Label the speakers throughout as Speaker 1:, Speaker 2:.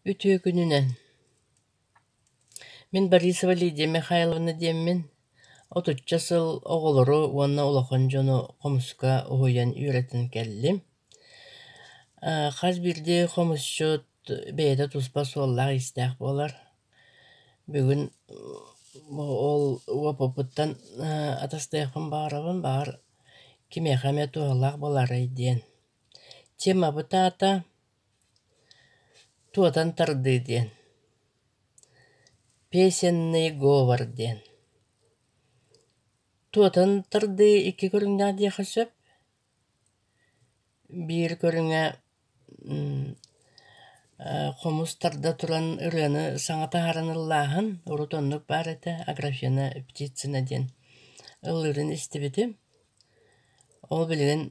Speaker 1: Үтүөкүнүнэн мин Борисова Лидия Михайловна диэммин отучча сыл оҕолору уонна улахан дьону хомуска уһуйан үөрэтэн кэллим. хас биирдии хомусчут бэйэтэ туспа суоллаах-иистээх буолар. Бүгүн ол УОППуттан атастыахпын баҕарабын, баҕар кимиэхэ эмэ туһалаах буолаарай диэн. Темабыт аата Туотан тардыы диэн, песенный говор диэн. Туотан тардыы икки көрүҥнээх диэххэ сөп. Биир көрүҥэ хомус тарда туран ырыаны саҥа таһааран ыллааһын, урут оннук баар этэ, аграфена птицына диэн ылыырын истибитим. Ол билигин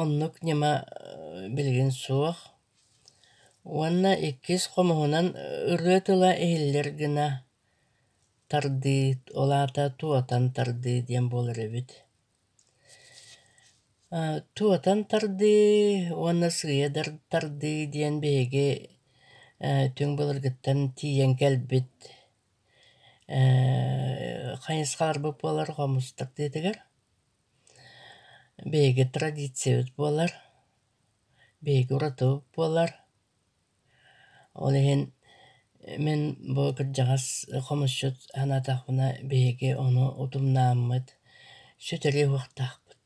Speaker 1: оннук ньыма билигин суох. Уонна иккис хомуһунан ырыа тыла иһиллэр гына тардыы, ол аата туотан тардыы диэн буолар эбит. Туотан тардыы уонна сыыйа тардыы диэн биһиги түҥ былыргыттан тиийэн кэлбит Ээ хайысхаларбыт буолар хомустук диэтигэр биһиги традициябыт буолар биһиги уратыбыт буолар ол иһин мин бу кырдьаҕас хомусчут санаатахпына биһиги ону утумнааммыт сүтэрии уһуктаахпыт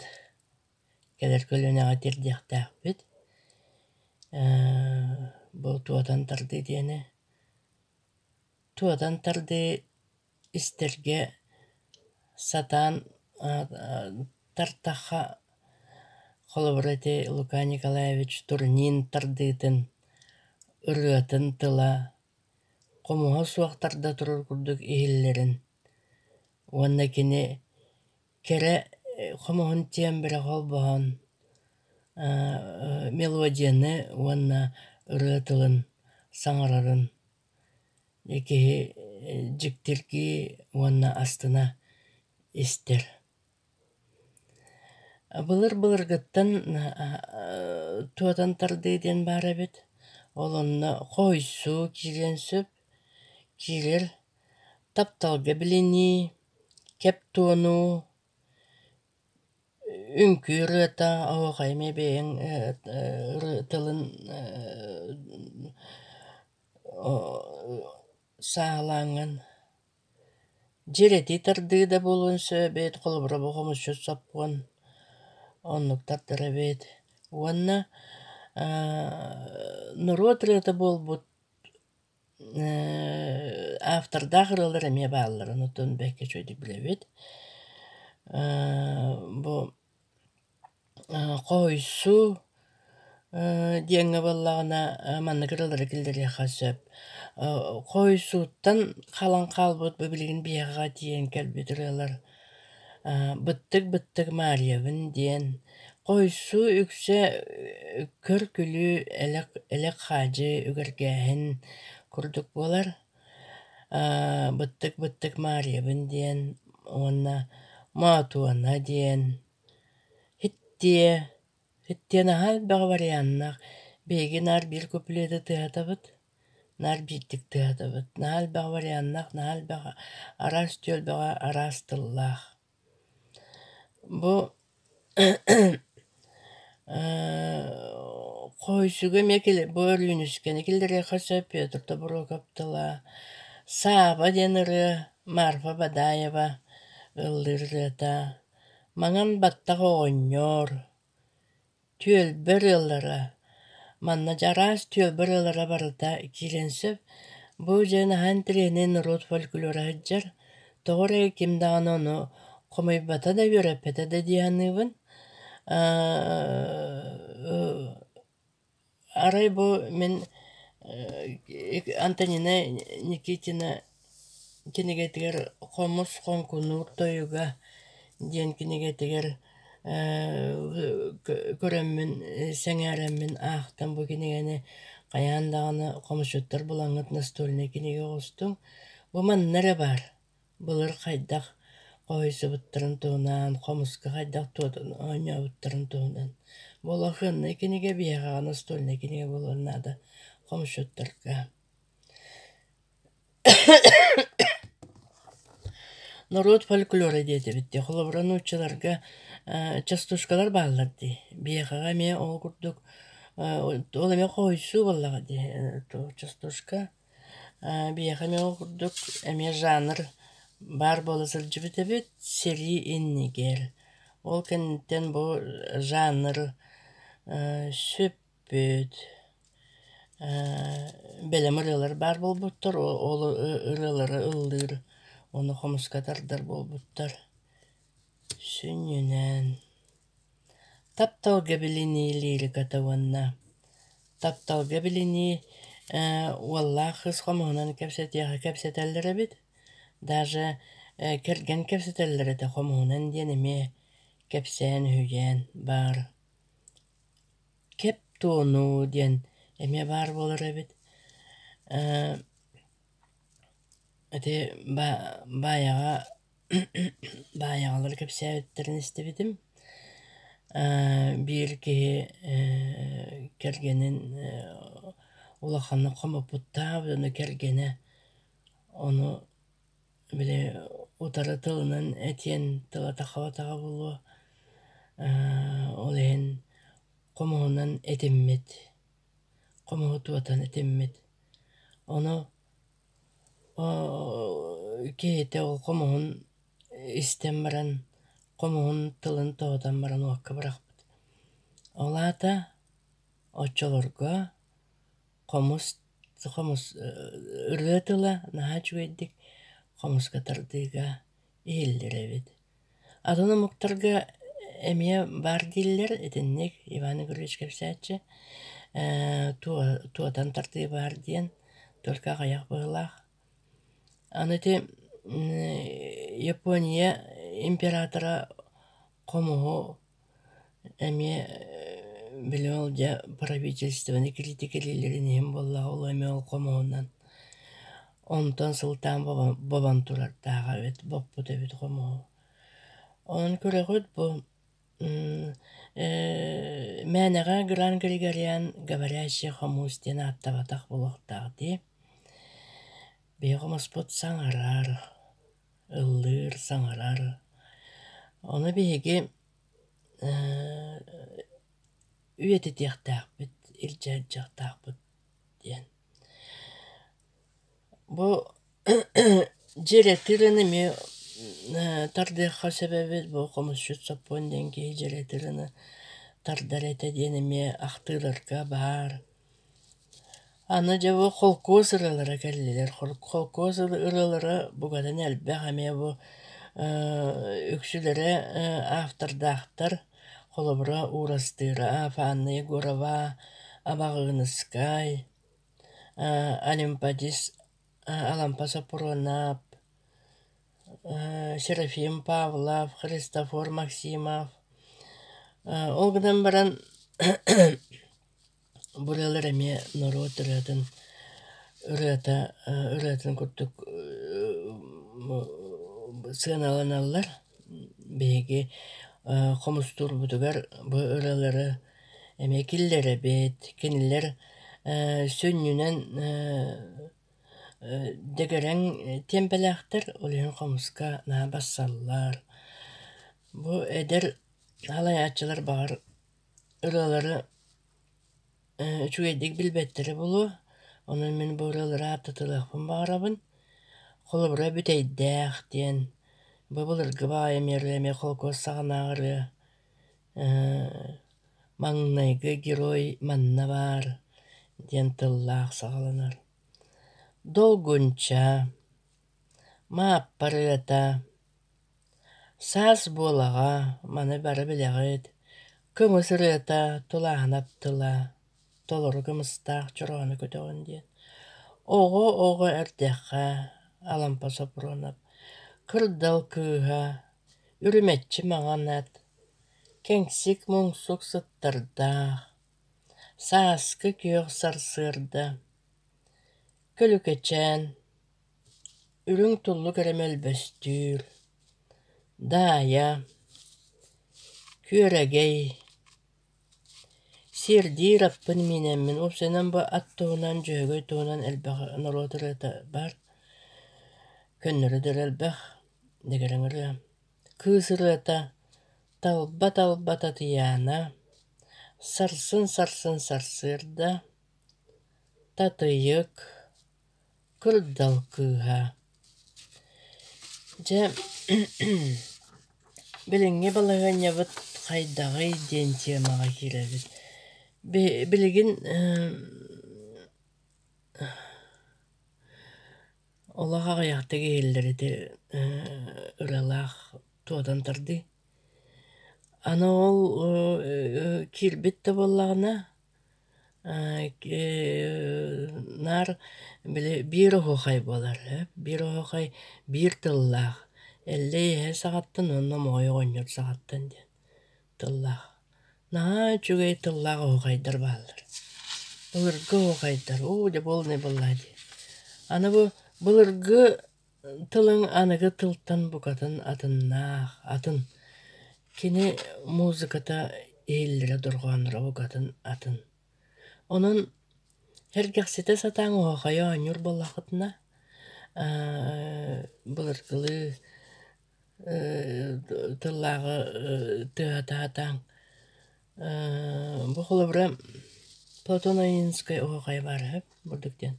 Speaker 1: кэлэр көлүөнэҕэ тиэрдиэхтээхпит бу туотан тардыы диэни Туотан тардыы истэргэ сатаан тартахха холобура ити Лука Николаевич турнин тардыытын, ырыатын тыла, хомуһа суох тарда турар курдук иһиллэрин уонна кини Кэрэ хомуһун тиэн бэрэ холбоһон мелодияны уонна ырыа тылын саҥарарын киһи дьиктиргии уонна астына истэр. Былыр-былыргыттан туотан тардыы диэн баар эбит. Ол онно хоһуйсуу киириэн сөп. Киирэр тапталга билинии кэп туону, үҥкүү ырыата, оһуохай эмиэ бэйэҥ тылын сааһылааҥҥын. Дьиэр этии тардыы да буолуон сөп эбээт, холобура бу хомусчут сопхуон, оннук тартар эбээт. Уонна норуот ырыата буолбут автордаах ырыалар эмиэ баалларын оттон бэккэ үчүгэйдик билэбит бу хоһуйсуу диэҥҥэ буоллаҕына маннык ырыалары киллэриэххэ сөп хоһуйсууттан халан хаалбыт бу билигин биһиэхэ тиийэн кэлбит ырыалар Быттык-быттык Маальябын диэн хоһуйсуу үксэ көр-күлүү элек-элек-хаадьы үгэргээһин курдук буолар. Быттык-быттык Маальябын диэн уонна Моотуона диэн Һиттиэ, Һиттиэ наһаа элбэҕи варианнах биһиги наар биир куплеты тыаһатабыт наар биирдик тыаһатабыт наһаа элбэҕи варианнах наһаа элбэҕи араас түөлбэҕэ араас тыллаах бу хойсугу эмиэ бу өрүүнүскэни киллэриэххэ сөп петр тобуруокап тыла сааба диэн ырыа марфа бадаева ыллыыр ырыата маҥан баттах оҕонньор Түөлбэ ырыалара Манна Дьараас түөлбэ ырыалара барыта киирэн сөп. Бу дьэ наһаа интэриэһинэй норуот фольклора сылдьар. Тоҕо эрэ ким даҕаны ону хомуйбата да, үөрэппэтэ да дии саныыбын. Арай бу мин Антонина Никитина Кинигэтигэр «Хомус хонкунуур тойуга» диэн кинигэтигэр көрөммүн, сэҥээрэммин аахтым. Бу кинигэни хайаан даҕаны хомусчуттар булаҥҥыт настольнай кинигэ оҕустуҥ. Бу манна эрэ баар. Былыр хайдах хоһуйсубуттарын туһунан, хомуска хайдах оонньообуттарын туһунан. Бу улахыаннай кинигэ, биһиэхэ настольнай кинигэ буолуон наада хомусчуттарга. норуот фольклора диэтибит дии холобура нууччаларга частушкалар бааллар дии биһиэхэҕэ эмиэ ол курдук ол эмиэ хоһуйсуу буоллаҕа дии частушка биһиэхэ эмиэ ол курдук эмиэ жанр баар буола сылдьыбыт эбит сэрии иннигэр ол кэнниттэн бу жанр сүп Бүт, бэлэм ырыалар баар буолбуттар, ол ырыалары ыллыыр, ону хомуска тардар буолбуттар. Сүнньүнэн тапталга билинии лириката уонна тапталга билинии уоллаах кыыс хомуһунан кэпсэтиэхэ кэпсэтэллэр эбит. Даже кэргэн кэпсэтэллэр этэ хомуһунан диэн эмиэ кэпсээн-үһүйээн баар. Кептону диэн эмиэ баар буолар эбит ээ ити ба баайаҕа баайаҕалар кэпсээбиттэрин истибитим ээ биир киһи ээ кэргэнин улаханнык хомоппуттаах кэргэнэ ону Били утары тылынан этиэн тылата-хабатаҕа буолуо, ол иһин хомуһунан этиммит, хомуһу тутан этиммит. Ону киһитэ ол хомуһун истэн баран, хомуһун тылын тоһутан баран уокка бырахпыт. Ол аата оччолорго Хомус, хомус ырыа тыла наһаа үчүгэйдик хомуска тардыыга иһиллэрэбит. Атын омуктарга эмиэ баар дииллэр итинник Иван Игоревич кэпсээччи туотан тардыы баар диэн только аҕыйах быһыылаах. Аны ити Япония императора хомуһу эмиэ билим ол дьэ правительственнай критика кэлиилэрин иһин буоллаҕа ол эмиэ ол хомуһунан онтон сылтаан бобон бобон турардааҕа эбит боппут эбит хомуһу онон күрэҕит бу мээнэҕэ гран григориан говорящий хомуус диэн ааттабатах буолуохтаах дии биһиги хомуспут саҥарар ыллыыр, саҥарар. Ону биһиги үйэтитиэхтээхпит, илдьэ сылдьыахтаахпыт диэн. Бу дьиэ этирин эмиэ тардыахха сөп эбит, бу хомусчут сопхуон диэн киһи дьиэ этирини тардар этэ диэн эмиэ ахтыыларга баар. Аны дьэ бу холкуос ырыалара кэллилэр. Холкуос ырыалара бугатан элбэх эмиэ бу үксүлэрэ автордаахтар. Холобура Уурастыыра, Афанна Егорова, Абаҕыыныскай, Олимподис, Алампа Сопуруонап, Серафим Павлов, Христофор Максимов. Ол гынан баран Бу ырыалар эмиэ норуот ырыатын ырыата ырыатын курдук сыаналаналлар. Биһиги хомустуурбутугар бу ырыалары эмиэ киллэрэбит, кинилэр сүнньүнэн дэгэрэҥ тиэмпэлээхтэр, ол иһин хомуска наһаа барсаллар. Бу эдэр халайааччылар баҕар ырыалары ээ үчүгэйдик билбэттэрэ буолуо, онон мин бу ырыалары ааттатыахпын баҕарабын. Холобура Бүтэйдээх диэн, бу былыргы баҕайы эмиэ ырыа эмиэ холкуос саҕанааҕы ырыа, маҥнайгы герой манна баар диэн тыллаах саҕаланар. Долгунча, Мааппа ырыата, Саас буолаҕа, маны бары билэҕит, кымыс ырыата, тулааһынап тыла, толору кымыстаах чороону көтөҕүн диэн. Оҕо оҕо эрдэххэ Алампа Сопрунов кырдал кыыһа, үрүмэччи маҥанат, кэҥсик муҥсук сыттардаах, сааскы күөх сарсыарда, Күлүкэчээн Үрүҥ туллук эрэ мөлбөстүүр, Даайа, Күөрэгэй, Сиэрдиир аппын миинэммин Ол сынан бу ат туһунан Дьөһөгөй туһунан элбэх норуот ырыата баар Көннөрү да ырыа элбэх, дэгэрэҥ ырыа Кыыс ырыата, Талба талба Татыйаана, Сарсын сарсын сарсыарда, Татыйык. Кырдал кыыһа Дьэ билиҥҥи балаһыанньабыт хайдаҕый диэн темаҕа киирэбит. Билигин олох аҕыйахтык иһиллэр ити ыралаах туотан тардыы. Аны ол киирбит да буоллаҕына Наар били биир оһуохай буолар ээ. Биир оһуохай биир тыллаах. Эллэй иһэ саҕаттан уонна омоҕой оҕонньор саҕаттан диэн тыллаах. Наһаа үчүгэй тыллаах оһуохайдар бааллар. Былыргы оһуохайдар уу дьэ буолунай буоллаа дии. Аны бу былыргы Тылыҥ аныгы тылтан букатын атыннаах, атын. Кини музыката иһиллэрэ дорҕоонноро букатын атын. Онон эргэхситэ сатаан оһохойо оонньуур буоллаххытына, былыргылыы тыллааҕы тыаһата сатааҥ. Бу холобура Платоновинскай оһохойо баара үһү, бурдук диэн.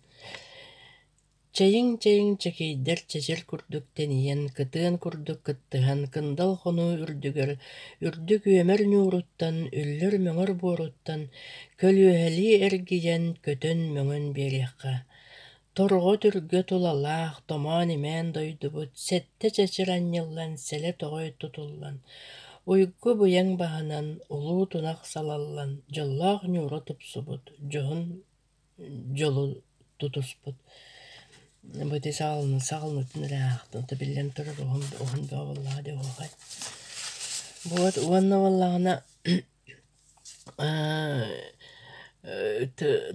Speaker 1: Чэйиҥ-чэйиҥ чэкэйдэр чэчир курдук тэнийэн, кытыан курдук кыттыһан, кындал хонуу үрдүгэр, үрдүк үөмэр ньууруттан, үллэр-мөҥөр буоруттан, көлүөһэлии эргийэн, көтөн-мөҥөн биэриэххэ. Торҕо-түргө тулалаах, томоон-имээн дойдубут сэттэ чэчир анньыллан, сэлэ-тоҕой тутуллан, уйгу-быйаҥ баһынан улуу тунах салаллан, дьоллоох ньуура тупсубут, дьоһун дьолун тутуспут бу ити саҕаланан саҕаланбытын эрэ аахтым то биллэн турар уһун уһун бөҕөбүллэҕэ дии оһуохай вот уонна буоллаҕына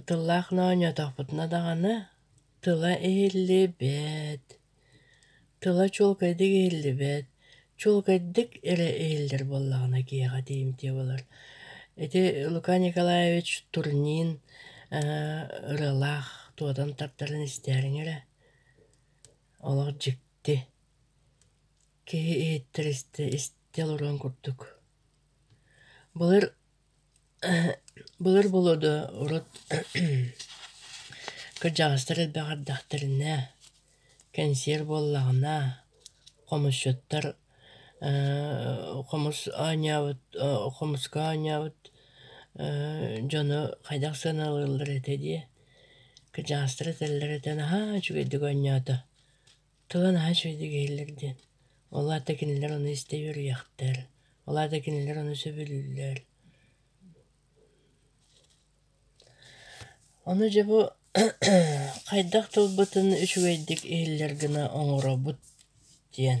Speaker 1: тыллаах моонньоотохпутуна даҕаны тыла иһиллибэт тыла чуолкайдык иһиллибэт, чуолкайдык эрэ иһиллэр буоллаҕына киһиэхэ тиийимтиэ буолар. Ити Лука Николаевич турнин ырыалаах туотан тартарын истээриҥ эрэ, олох дьикти. Киһи иһиттэр истэ истэ олоруон курдук. Былыр Былыр болуода урут кырдьаҕастар элбэх ардахтарына, кэнсиэр буоллаҕына, хомусчуттар хомус оонньообут хомуска оонньообут дьону хайдах сыаналыыллар этэ дии, кырдьаҕастар этэллэр этэ наһаа үчүгэйдик оонньоото. тыла наһаа үчүгэйдик иһиллэр диэн ол аата кинилэр ону истэ үөрүйэхтэр ол аата кинилэр ону сөбүлүүллэр ону дьэ бу хайдах тылбытын үчүгэйдик иһиллэр гына оҥоробут диэн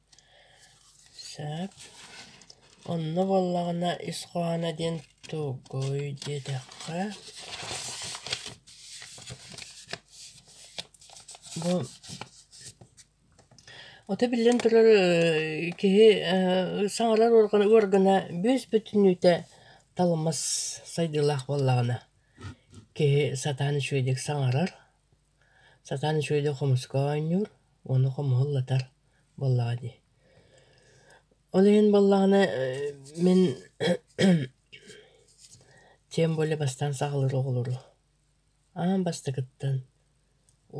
Speaker 1: Сөп. Онно буоллаҕына ис хоһооно диэн тугуй диэтэххэ бу ото биллэн турар э киһи э саҥарар уоргана уоргана бүүс-бүтүнүүтэ талымас сайдыылаах буоллаҕына киһи сатаан үчүгэйдик саҥарар. Сатаан үчүгэй да хомуска оонньуур уонна хомуһу ыллатар буоллаҕа дии. Ол иһин буоллаҕына мин тем более бастаан саҕалыыр оҕолору аан бастакыттан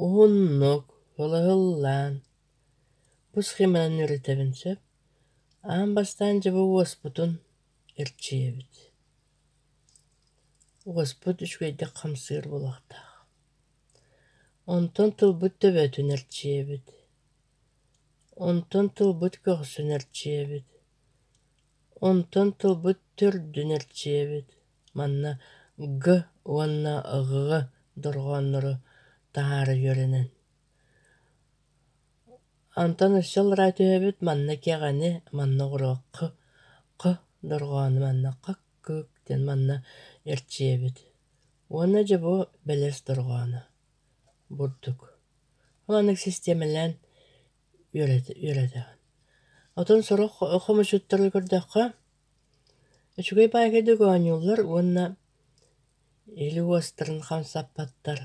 Speaker 1: уһуннук ылаһыллаан бу схеманан үөрэтэбин сөп аан бастаан дьэ уоспутун эрчийэбит уоспут үчүгэйдик хамсыыр буолуохтаах Онтон тылбыт төбөтүн эрчийэбит, онтон тылбыт көхсүн эрчийэбит, онтон тылбыт төрдүн эрчийэбит, манна г уонна г дорҕооннору таһаара үөрэнэн. Онтон өссө аллараа түһэбит, манна кэҕэни, манна оҕуруокку, қ дорҕоону, манна қ Кыык диэн манна эрчийэбит. Уонна дьэ бу бэлэс дорҕооно бурдук. Ол аны систиэмэлээн үөрэтэҕин. Отон сорох хомучуттары көрдөххө, үчүгэй баайгайдык оонньууллар уонна или уостарын хамсаппаттар.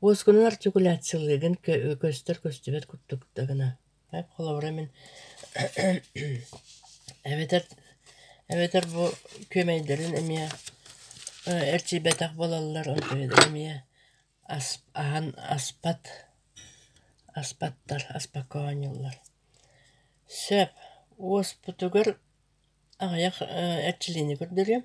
Speaker 1: Уоскунан артикуляциялыыгын көстөр көстүбэт курдук да гына холобура мин эбэтэр эбэтэр бу күөмэйдэрин эмиэ эрчийбэтэх буолаллар онтуйатын эмиэ аһан аспат аспаттар аспакка оонньууллар сөп уоспутугар аҕыйах эрчилиини көрдөрүөм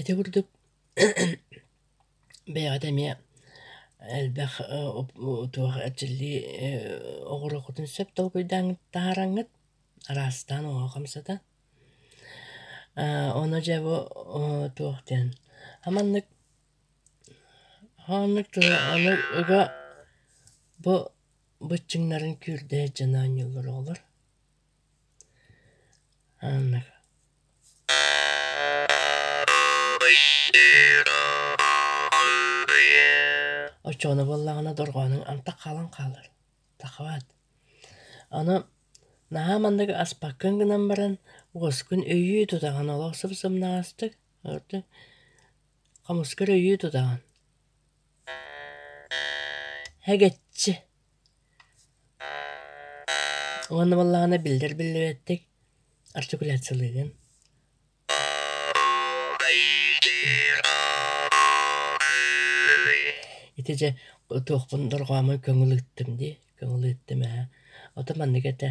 Speaker 1: Ити курдук бэйэҕит эмиэ элбэх туох эрчиллии оҕуруоккутун сөп толкуйдааҥҥыт таһаараҥҥыт араастаан оҕоҕо хамсата. ону дьэ бу туох диэн маннык оннук аны ыга бу быччыҥнарын күүрдэ сдьаныан оонньууллар оҕолор. Оччоҕуна буоллаҕына дорҕооноҥ антах хаалан хаалар. Тахаат. Аны наһаа маннык аспаккын гынан баран уоскун өйүү тутаҕын олох сымсымнаҕастык ырдык хомускар өйүү тутаҕын. Эгэччи Уонна буоллаҕына биллэр биллибэттик артикуляциялыыгын. Ити дьэ туохпун дорҕоомо көҥүл ыыттым дии, көҥүл ыыттым ээ. Ото маннык этэ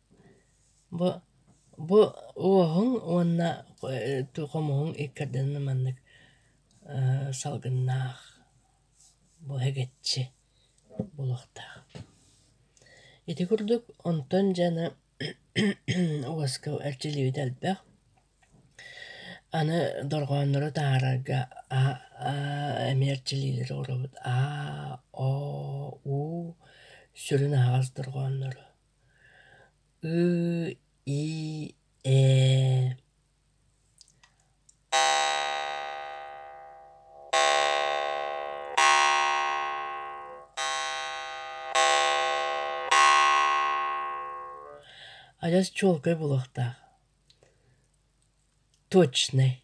Speaker 1: Бу бу уоһуҥ уонна хомуһуҥ иккардынын маннык салгыннаах бу эгэччи буолуохтаах. Ити курдук онтон дьаны уоска эрчиллибитэ элбэх. Аны дорҕооннору таһаарарга а эмиэ эрчиллиилэри оҥоробут а о у сүрүн аһаҕас дорҕооннору. ы и ээ адьас чуолкай буолуохтаах точный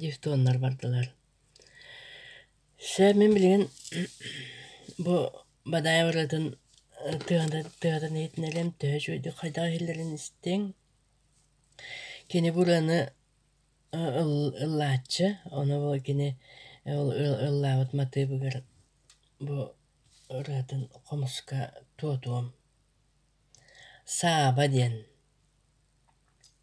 Speaker 1: дифтоннар бардылар сөп мин билигин бу бадаай барыытын тыатын иһитинэлэм төһө үчүгэйдик хайдах иһиллэрин истиҥ кини бу ырыаны ыллааччы ону бу кини ыллаабыт матыыбыгар бу ырыатын хомуска туотуом сааба диэн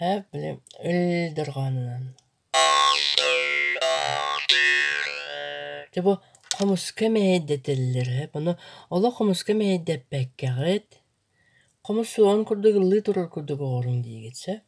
Speaker 1: Һээ, билим, ил дорҕоонунан. Дьэ бу хомуска мэһэйдэтэллэр үһү. Ону олох хомуска мэһэйдэппэккэҕит, хомус суоҕун курдук ыллыы турар курдук оҕоруҥ диигит, сөп?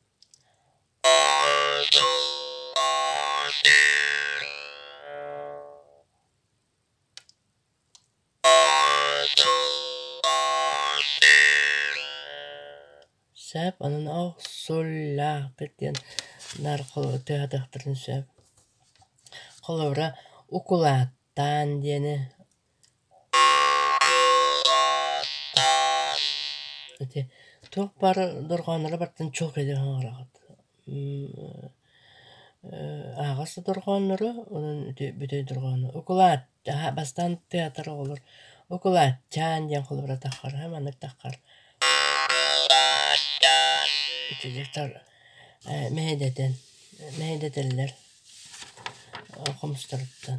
Speaker 1: Сөп, онон охсуллаахпыт диэн нарколору тыаһатыахтарын сөп. Холобура, укулааттаан диэни ити туох баар дорҕоонноро барытын чуолкайдык оҥороҕут. Аһаҕас да дорҕооннору, онон ити бүтэй дорҕоону укулаат Дьаһа бастаан театр оҕолор укулачаан диэн холобура таххара маннык таххар итилитэр э, мэһэйдэтэн мэһэйдэтэллэр э, хомустарыттан